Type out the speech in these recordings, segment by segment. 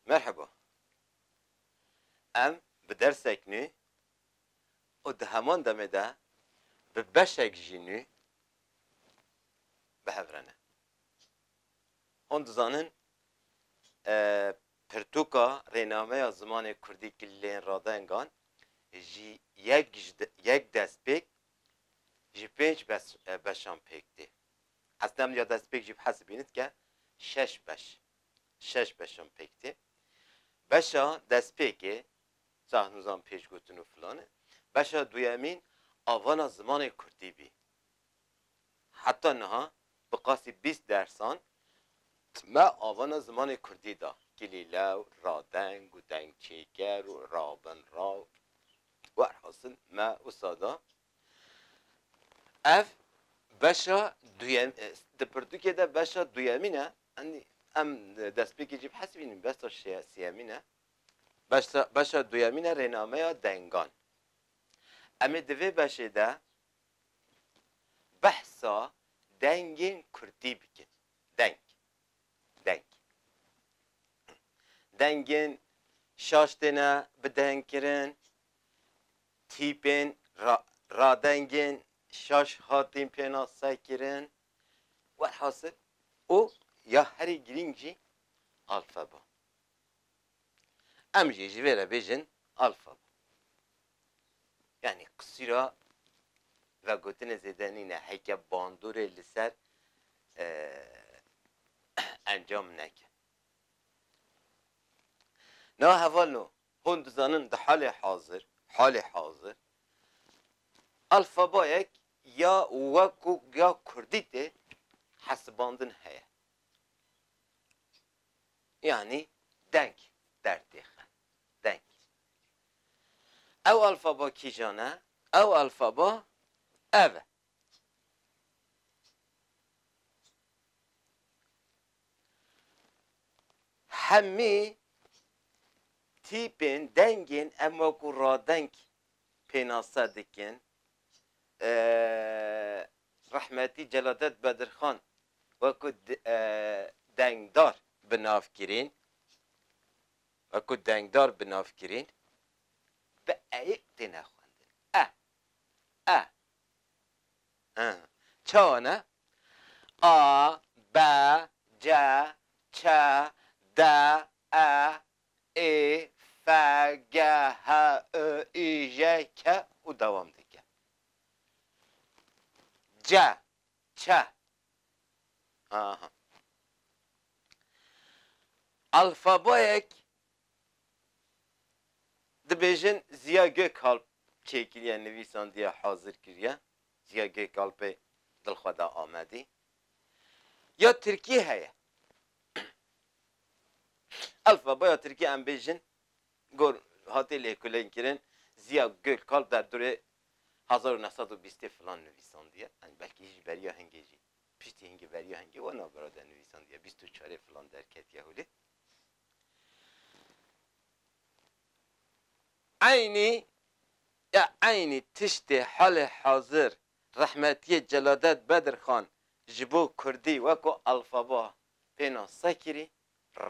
Merheba. Em bi dersek nû û di heman demê de bi beşek jî nû bi hev re ne. Hûn dizanin pirtûka rênameya zimanê kurdî kilên radengan ji yek ji yek destpêk ji pênc beşan pêk tê. Esna min ya destpêk jî bi hez dibînit ke şeş beş, şeş beşan pêk tê. Beşa destpêkê cahnûzan pêşgotin û filan e. Beşa duyemîn avana zimanê kurdî bî. Heta niha bi qasî bîst dersan me avana zimanê kurdî da. Kilîlew, radeng û dengçêker û rabin ra û. Werhasil me usa da. Ev beşa duyem di pirtûkê de beşa duyemîn e. Enî em destpêkê jî bihesibînin beşa sêyemîn e. Beşa beşa duyemîn e rênameya dengan. Em ê di vê beşê de behsa dengên kurdî bikin. Deng. Deng. Dengên şaş têne bidengkirin, Tîpên radengên şaş hatin pênasekirin. Welhasil û ya herî girîng jî alfeba. Em jî ji vê re bêjin alfeba. Yanî qisîra vegotinê zêde nîne heke bandorê li ser encam neke. Niha hevalno Hûn dizanin di halê hazir, halê hazir, alfabayek ya weko ya kurdî tê hesibandin heye. Yanî deng dertêxe, deng. Ew alfaba kîjan e? Ew alfaba ev e. Hemî tîpên dengên em wekû radeng pênase dikin. Rehmetî Celadet Bedirxan wekû dengdar bi nav kirîn, wekû dengdar bi nav kirîn, bi e'ê têne xwendin. E, e, He. Çawa ne? A, B, C, Ç, D, E, I, F, G, H, I, I, J, K û dewam dike. C, Ç. Aha. Alfabayek Dibêjin Ziya Gökalp çêkiriye, nivîsandiye, hazir kiriye, Ziya Gökalpê dil xwe da Amedî. Ya tirkî heye. Elfeba ya tirkî em bêjin gor hatiye lêkolînkirin, Ziya Gökalp derdorê hezar û neh sed û bîstê filan nivîsandiye, yanî belkî ji beriya hingê jî, piştî hingê beriya hingê wana birade nivîsandiye, bîst û çarê filan derketiye holê. Eynî ya eynî tiştê halê hazir rehmetiyê Celadet Bedirxan ji bo kurdî weko alfaba pênase kirî,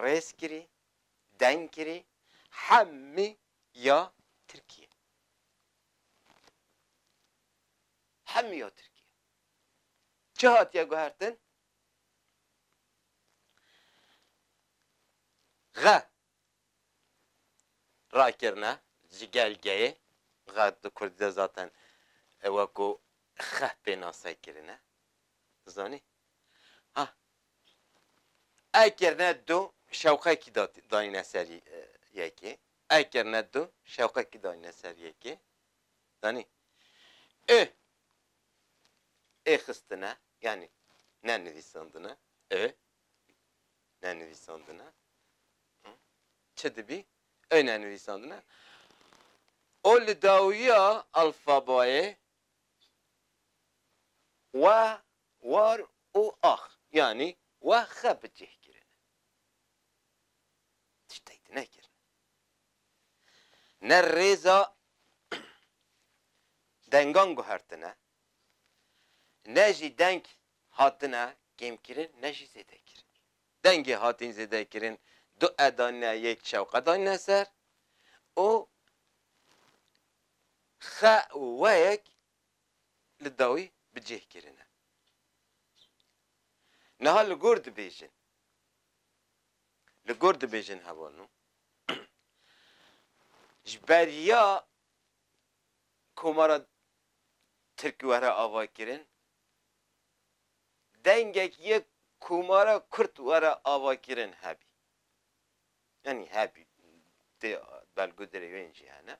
rêz kirî, deng kirî hemî ya tirkî ye. Hemî ya tirkî ye. Çi hatiye guhertin? Xe rakirine ji gelgeyê, xe di kurdî de zaten weko xe pênase kirine, zanî? Ha e kirine du şewqekî danîne ser yekê, e kirine du şewqekî danîne ser yekê, zanî? Ê. ê xistine yanî ne nivîsandine ê ne nivîsandine çi dibî ê ne nivîsandine û li dawiya alfabayê we war û ax yanî we xe bi cih kirine. Tiştê di nekirine. ne rêza dengan guhertine, ne jî deng hatine kêmkirin ne jî zêdekirin. Dengê hatîn zêdekirin du e danîne yek şewqe danîne ser û xe û weyek li dawî bi cih kirine. Niha li gor dibêjin. li gor dibêjin heval nû ji ber ya komara Tirk were avakirin dengek yê komara Kurd were avakirin hebî yanî hebî tê belgudirê wên jî hene.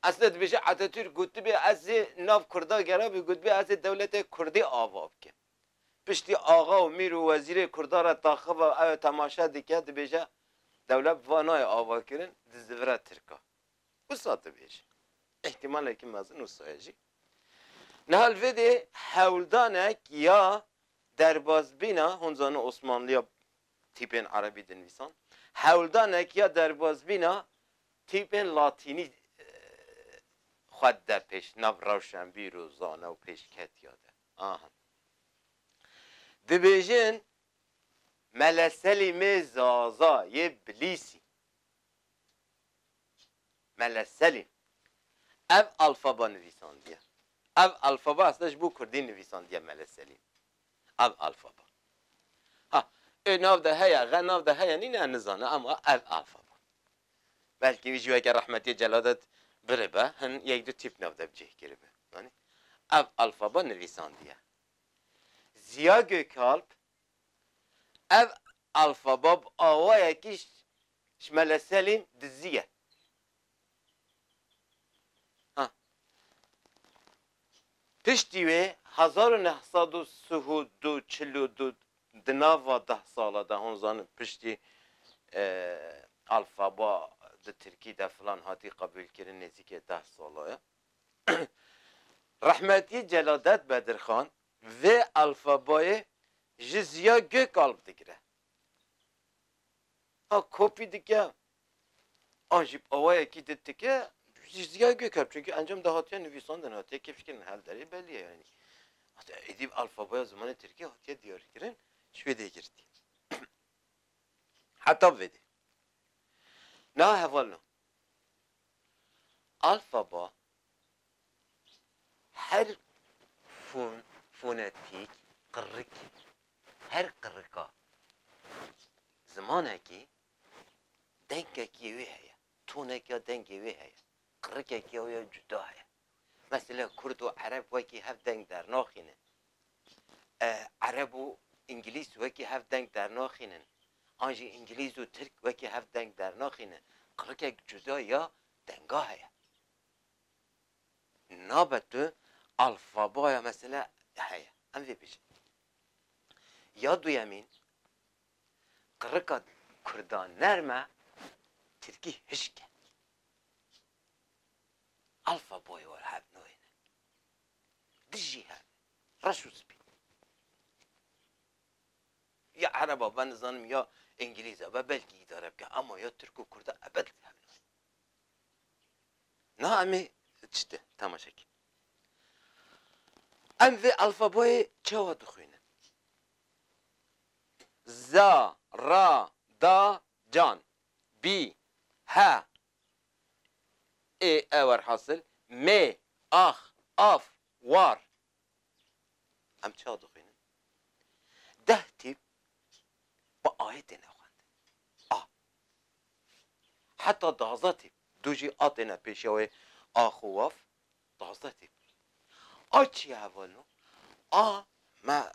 Esna dibêje Atatürk gotibê ez ê nav Kurda gerabê gotibê ez ê dewletê Kurdî ava bikim. Piştî axa û mîr û wezîrê Kurdan re taxiva ew temaşe dike, dibêje dewlet bi van nayê avakirin, dizdivire Tirka. Wisa dibêje. Îhtîmalekî mezin wisa ye jî. Niha li vê dê hewldanek ya derbasbîna, hûn zanin Osmanliya tîpên Erebî dinivîsan, hewldanek ya derbasbîna tîpên Latînî xwe dide pêş, nav rewşenbîr û zana û pêşketiya de. Aha. Dibêjin Mele Selîmê Zaza yê Bilîsî. Mele Selîm. Ev alfaba nivîsandiye. Ev alfaba esna ji bo kurdî nivîsandiye Mele Selîm. Ev alfaba. Ha, ê nav de heye, ge nav de heye nîne, nizane ama ev alfaba. Belkî wî jî weke Rehmetî Celadet biribe, hin yek du tîp nav de bi cih kiribe. Zanî? Ev alfaba nivîsandiye. Ziya Gökalp ev alfaba bi awayekî ji Mele Selîm diziye. Ha. Piştî wê hezar û neh sed û sih û du çil û du di nava deh sala de hûn zanin piştî alfaba di tirkî de filan hatî qebûlkirin nêzîkê deh sala ye rehmetî Celadet Bedirxan vê alfabayê ji Ziya Gökalp digire a kopî dike an jî bi awayekî di tike ji ziya gök hat çünkü encam de hatiye nivîsandin hatiye kêfkirin hel derê belî ye yanî êdî bi alfabaya zimanê tirkî hatiye diyarkirin ji wê dê girtî heta bi vê dê niha heval na alfaba her fon fonetîk qirrikî her qirrika zimanekî Dengekî wê heye, tonekîa dengê wê heye, qirikekîa wê ya cuda heye. Mesele kurd û ereb wekî hev deng dernaxînin. Ereb û îngilîz wekî hev deng dernaxînin. An jî îngilîz û tirk wekî hev deng dernaxînin. Qirikek cuda ya denga heye. Nabe tu alfabaya mesele heye. Em vê bijîn. Ya duyemîn. Qirika kurdan nerm e, tirkî hişk e. Alfaboyê we hev nûyê ne. Di jî hev e. Reş û spî. Ya ereba be nizanim ya îngilîza be belkî îdare bike ema ya tirk û kurda ebed hev nûyê ne. Niha em ê çi de temaşe bikin. Em vê alfaboyê çawa dixwînin? za, ra, da, can, bî, he, ê, e werhasil, mê, ax, af, war. Em çawa dixwînin? Deh tîp bi ayê têne xwendin. A. Heta daza tîp du jî a têne pêşiya wê ax û waf, Taze tê kulîn. A çi ye hevalino? A me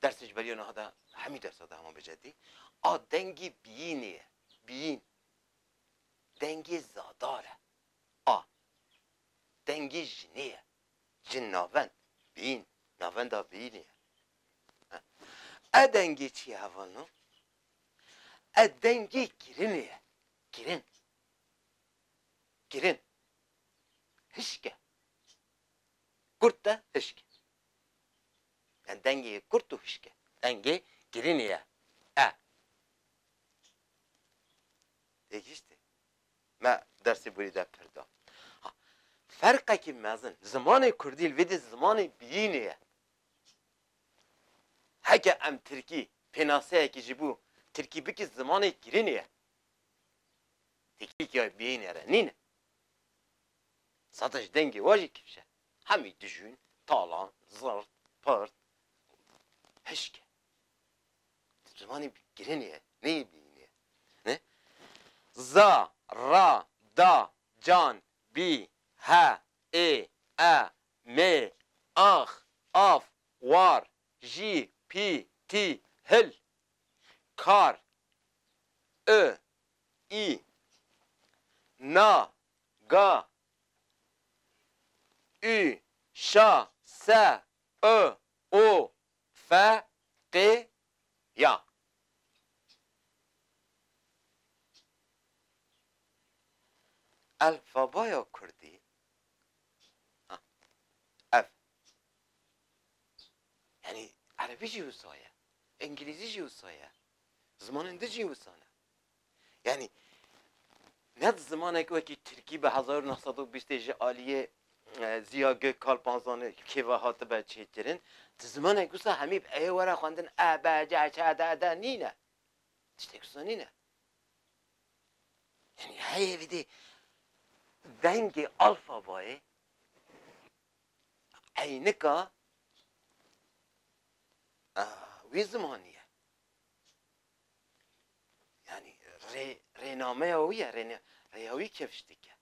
dersê ji beriya niha de hemî dersa de hema bi cedî a dengê biyînê ye. Biyîn. Dengê zadar e. A. Dengê jinê ye. Jin navend. Biyîn. Navenda biyînê ye. E dengê çi ye hevalino? E dengê kirinê ye. Kirin. Kirin. Hişk e. Kurt e, hişk e. Yani dengê kurt û hişk e. Dengê kirinê ye. E. Têgihîştî? Me dersê borî de pir da. Ha, ferqekî mezin. Zimanê kurdî li vê dî zimanê biyînê ye. Heke em tirkî pênaseyekî ji bo tirkî bikî zimanê kirinê ye. Têkilîtiyayê bîyînê re nîn e. Sata ji dengê we jî kifş e. Hemî dijûn, talan, zirt, pirt û hişk e. Di zimanê girinê ye, neyê bîyînê ye. Ne? Za, ra, da, can, bî, he, ê, e, mê, ax, af, war, jî, pî, tî, hil, kar, û, ii, na, ga, ü, şa, se, ı, u, fe, qi, ya. Elfabaya kurdî ev yanî erebî jî wisa ye, îngilîzî jî wisa ye, zimanên din jî wisa ne. Yani ne di zimanek wekî Tirkî bi hezar û neh sed û bîstê ji aliyê e, Ziya Gök Kalpanzanê kêva hatibe çêkirin. Di zimanek wisa hemî bi eyê were xwendin e, be, ce, çe, de, de nîne. Tiştek wisa nîne. Yani heyê vîdê dengê alfabayê eynika wî zimanî ye. Yani rê, rênameya wî ye, rêne, rêya wî kevş dike.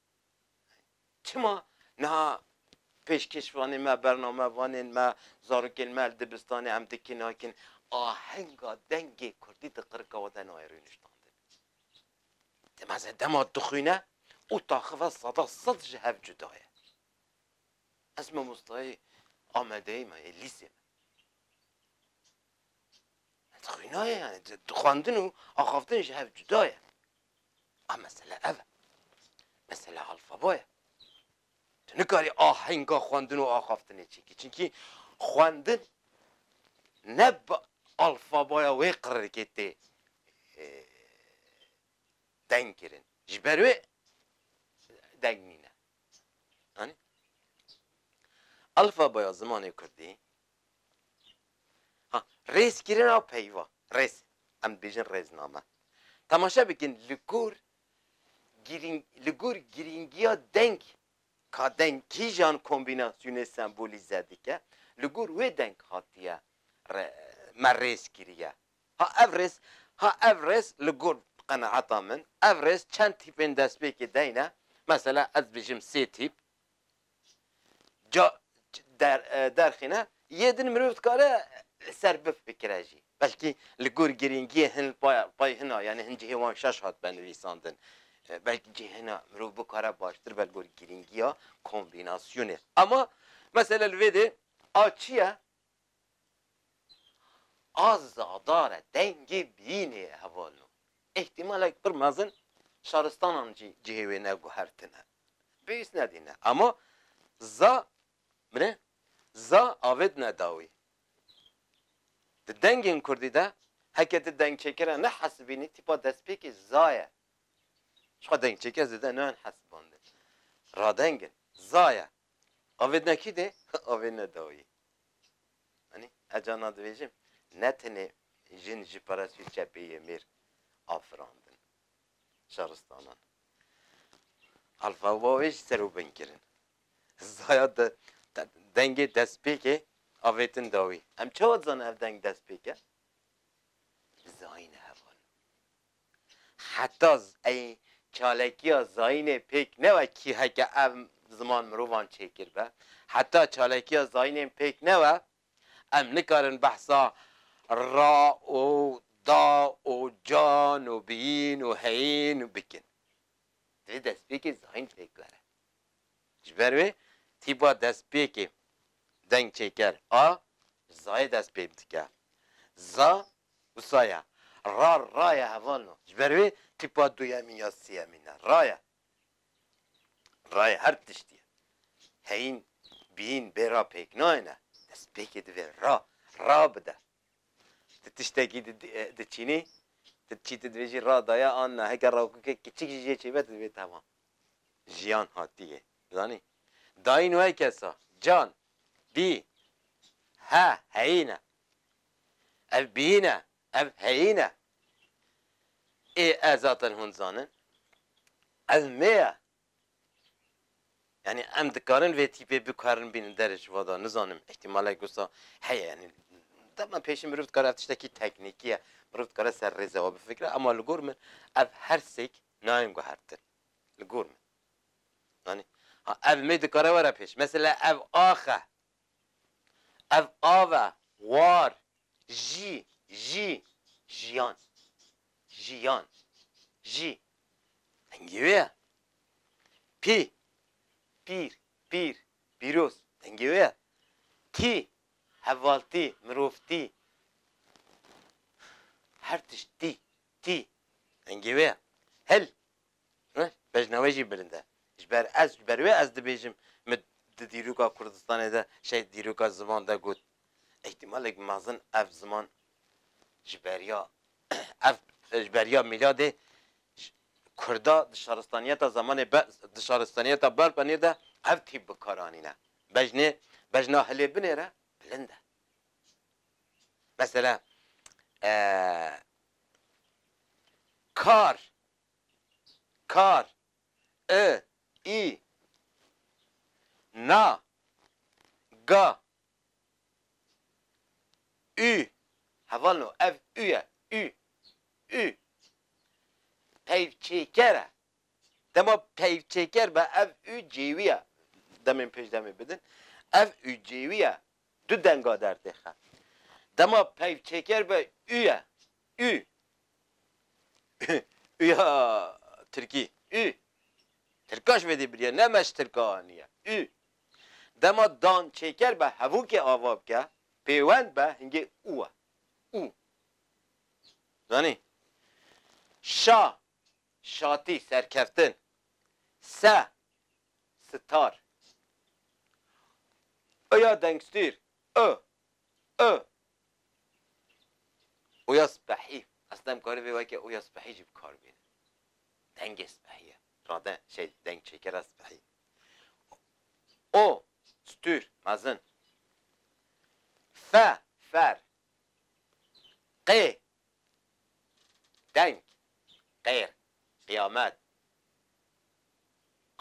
Çima niha pêşkêşvanên me, bernamevanên me, zarokên me li dibistanê em dikin nakin ahenga dengê Kurdî di qirika we de nayê rûniştandin. Di meze dema dixwîne û taxive seda sed ji hev cuda ye. Ez mamostayê Amedeyê me yê lîsê me. Xwînaye yani xwendin û axaftin ji hev cuda ye. A mesele ev e. Mesele alfabo ye. Tu nikarî ahenga xwendin û axaftinê çêkî. Çinkî xwendin ne bi alfaboya wê qirrikê tê deng kirin. Ji ber wê deng nîne. Anî? Alfaboya zimanê Kurdî Ha, rêzkirina peyva, rêz, em dibêjin rêzname. Temaşe bikin li gor girîng li gor girîngiya deng ka deng kîjan kombînasyonê sembolîze dike, li gor wê deng hatiye re me rêz kiriye. Ha ev rêz, ha ev rêz li gor qenaeta min, ev rêz çend tîpên destpêkê deyne, mesela ez dibêjim sê tîp, Ca derxîne yê din mirov dikare li ser biv bikire jî. Belkî li gor girîngiyê hin pay hin a yanî hin cihê wan şaş hat be nivîsandin. Belkî cihê hin a mirov bikare baştir be li gor girîngiya kombînasyonê. Ema mesela li vê dê a çi ye? A zadare dengê bîyînê ye hevalno. Îhtîmalek pir mezin şaristanan jî cihê wê neguhertine. Pêwîst nedîne. Ema za bine za avêtine dawî. Di dengên kurdî de heke ti dengçêkera nehesibînî tîpa destpêkê za ye. Jixwe dengçêker zêde nayên hesibandin. Radeng in. Za ye. Avê nekî de avê ne dawî. Anî ez carna dibêjim ne tenê jin ji perestûyê çepê yê mêr afirandin şaristanan. Alfa û bawê jî ser û bin kirin. Zaya de dengê destpêkê avêtin dawî. Em çawa dizanin ev deng destpêk e? Zayîn heval. Heta ey çalakiya zayînê pêk newe kî heke ev ziman mirovan çêkir be, heta çalakiya zayînên pêk newe em nikarin behsa ra û da û can û bîn û heyîn bikin. Divê destpêkê zayîn pêk were. Ji ber wê tîpa destpêkê dengçêker a ji zayê dest pê dike. Za Wisa ye. Ra ra ye heval no. Ji ber wê tîpa duyemîn ya sêyemîn e. Ra ye. Ra ye her tiştî ye. Heyîn, bîyîn bê ra pêk nayêne. Destpêkê divê ra, ra bide. Tu tiştekî di diçînî, tu diçî tu dibêjî ra daye an na. Heke rakokek kiçik jî jê çêbe tu dibê temam. Jiyan hatiyê. Zanî? Dayîn weke sa. Can. Bî. He. Heyîn e. Ev bîn e, ev heyîn e. Ê e zaten hûn dizanin. Ev mê ye. Yanî em dikarin vê tîpê bikarin bînin derê ji vada nizanim îhtîmalek wisa heye yanî dema pêşî mirov dikare ev tiştekî teknîkî ye mirov dikare ser rêze we bifikire ema li gor min ev her sêk nayên guhertin li gor min yanî ha ev mê dikare were pêş mesela ev axe Ev av e, war, jî, jî, jiyan, jiyan, jî. Dengê wê ye. Pî, pîr, pîr, pîroz. Dengê wê ye. Tî, hevaltî, mirovtî. Her tişt tî, tî. Dengê wê ye. Hil, Rih bejna wê jî bilind e. Ji ber ez, ji ber wê ez dibêjim min di dîroka Kurdistanê de şehîd dîroka ziman de got. Îhtîmalek mezin ev ziman ji beriya ev ji beriya mîladê Kurda di şaristaniyeta zemanê be di şaristaniyeta Berbenê de ev tîp bi kar anîne. Bejnê bejna hilê binê re bilind e. Mesela kar kar, i, î, na, ga, û, heval no, ev û ye, û, û, peyvçêker e. Dema peyvçêker be ev û cêwî ye, demên pêş demê bidin, ev û cêwî ye, du denga dertê xe. Dema peyvçêker be û ye, Ü Ü ya tirkî Ü Tirka ji vê dî biriye ne me ji tirka aniye Ü Dema dan çêker be hevokê ava bike pêwend be hingê û e Û Zanî Şa Şatî serkeftin Se Sitar Ü ya dengstîr Ü Ü Oya spehî, aslî em karî vê weke oya spehî jî bi kar bînin. Dengê spehî ye. Rade şey deng çêkera spehî. O, stûr, mezin. Fe, fer. Qê, deng, qêr, qiyamet.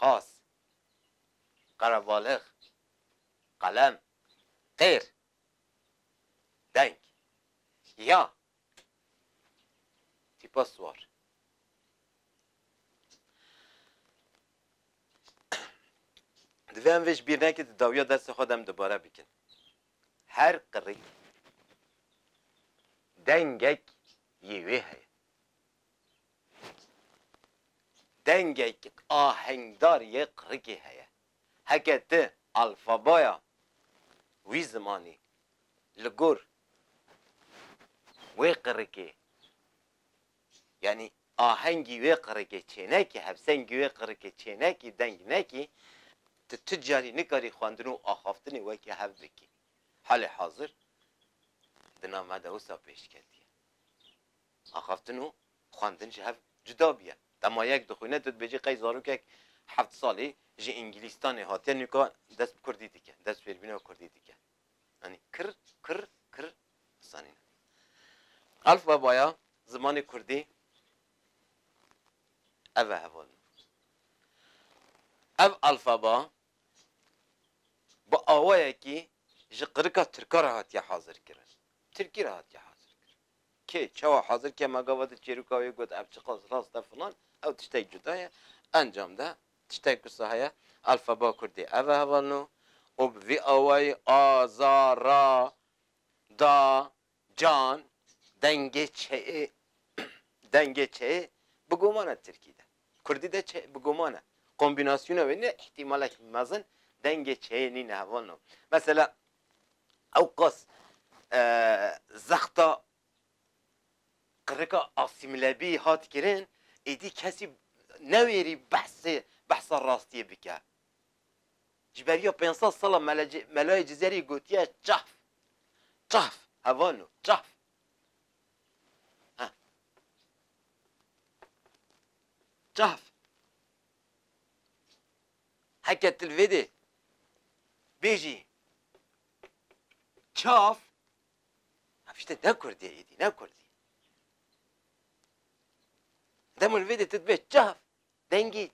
Qas, qerebalix, qelem. Qêr, Deng. Ya. Tîpa siwar. Divê em vê ji bîr nekin di dawiya dersê xwe de em dubare bikin. Her qirrîk dengek yê wê heye. Dengek ahengdar yê qirrikê heye. Heke ti alfabaya wî zimanî li gor wê qirikê yanî ahengî wê qirikê çênekî, hevsengî wê qirikê çênekî, deng nekî, ti tu carî nikarî xwendin û axaftinê weke hev bikî. Halê hazir di name de wisa pêşketî ye. Axaftin û xwendin ji hev cuda bûye. Dema yek dixwîne tu dibêjî qey zarokek heft salî ji Îngîlîstanê hatiye nûka dest bi kurdî dike, dest bi fêrbîna kurdî dike. Yanî kir, kir, kir zanîn e. Alfabaya zimanê kurdî ev e heval min. Ev alfaba bi awayekî ji qirika tirka re hatiye hazirkirin. Tirkî re hatiye hazirkirin. Kê çawa hazir ke ma gava di çêrûka wê got ev çiqas rast e filan ew tiştek cuda ye. Encam de tiştek ku sax ye alfaba kurdî ev e heval no û bi vî awayî a, za, ra, da, can dengê çeyê dengê çeyê bi guman e tirkî de. Kurdî de çe bi guman e. Kombînasyona wê ne îhtîmalek mezin dengê çeyê nîne heval no. Mesela Ewqas zexta qirika asîmîlebî hat kirin, êdî kesî newêrî behsê behsa rastiyê bike. Ji beriya pênc sed sala melayê Cizerî gotiye çahf, çahf, hevano, çahf. Çahf. Heke tu li vê dê bêjî çav ev tiştê ne kurdî ye êdî ne kurdî. Dema li vê dê tu dibe çav dengî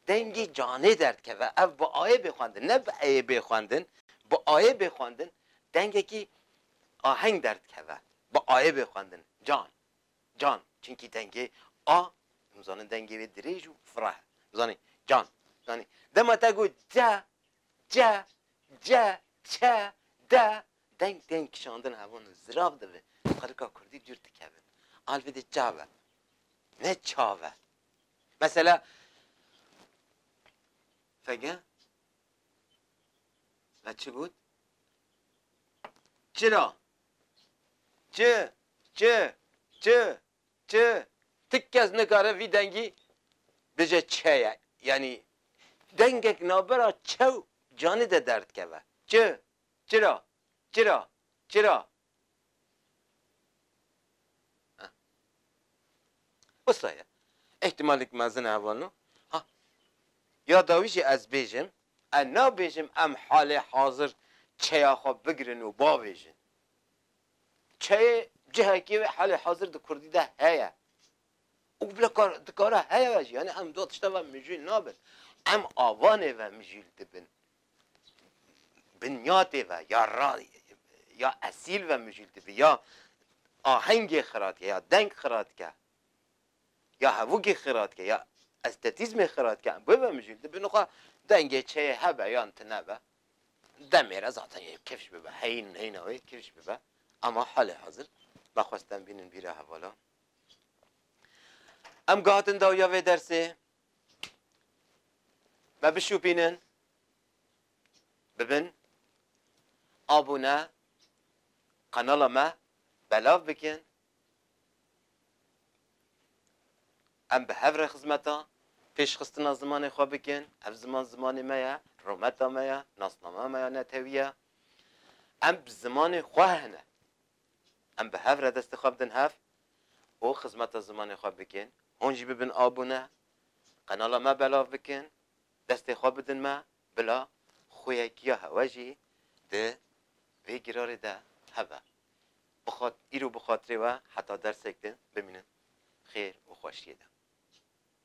dengî canê derdikeve ev bi ayê bê xwendin ne bi eyê bê xwendin bi ayê bê xwendin dengekî aheng derdikeve bi ayê bê xwendin can Can, çinkî dengê A, em zanin dengê wê dirêj û fireh e. Zanî, can, zanî. Dema te got ce, ce, ce, çe, de, deng tên kişandin hevan in, zirav dibe. Xelika kurdî dûr dikevin. Alvê de ca be, ne ça be. Mesela, fege, me çi got? Çira, Çi, çi, çi, çi, ti kes nikare vî dengî bije çe ye. Yanî dengek navbera çe û canî de derdikeve. Çi, çira, çira, çira. Wisa ye. Îhtîmalek mezin e hevalno. Ha, ya dawî jî ez bêjim, Ez nabêjim em halê hazir çeya xwe bigirin û bavêjin. Çeyê cihekê wê halê hazir di kurdî de heye û bila kar dikare heye ve jî. Yanî em du tişta ve mijûl nabin. Em avanê ve mijûl dibin. Binyatê ve ya ra ya esîl ve mijûl dibin ya ahengê xiratke ya deng xiratke. ya hevûkê xiratke ya estetîzmê xiratke em bibe mijûl dibin û xwe dengê çeyê hebe yan tunebe demê re zaten yê kifş bibe heyîn heyîna wê kifş bibe ema halê hazir me xwest em bînin bîra hevalan em gahatin dawiya vê dersê me bişûpînin bibin abûne qenala me belav bikin Em bi hev re xizmeta pêşxistina zimanê xwe bikin. Ev ziman zimanê me ye, rometa me ye, nasnameya me ya netewî ye. Em bi zimanê xwe hene. Em bi hev re destê xwe bidin hev û xizmeta zimanê xwe bikin. Hûn jî bibin abûne, qenala me belav bikin, destê xwe bidin me. Bila xweyekiya hewa jî di vê girarê de hebe. Bixat îro bi xatirê we heta dersek din bimînin xêr û xweşiyê de.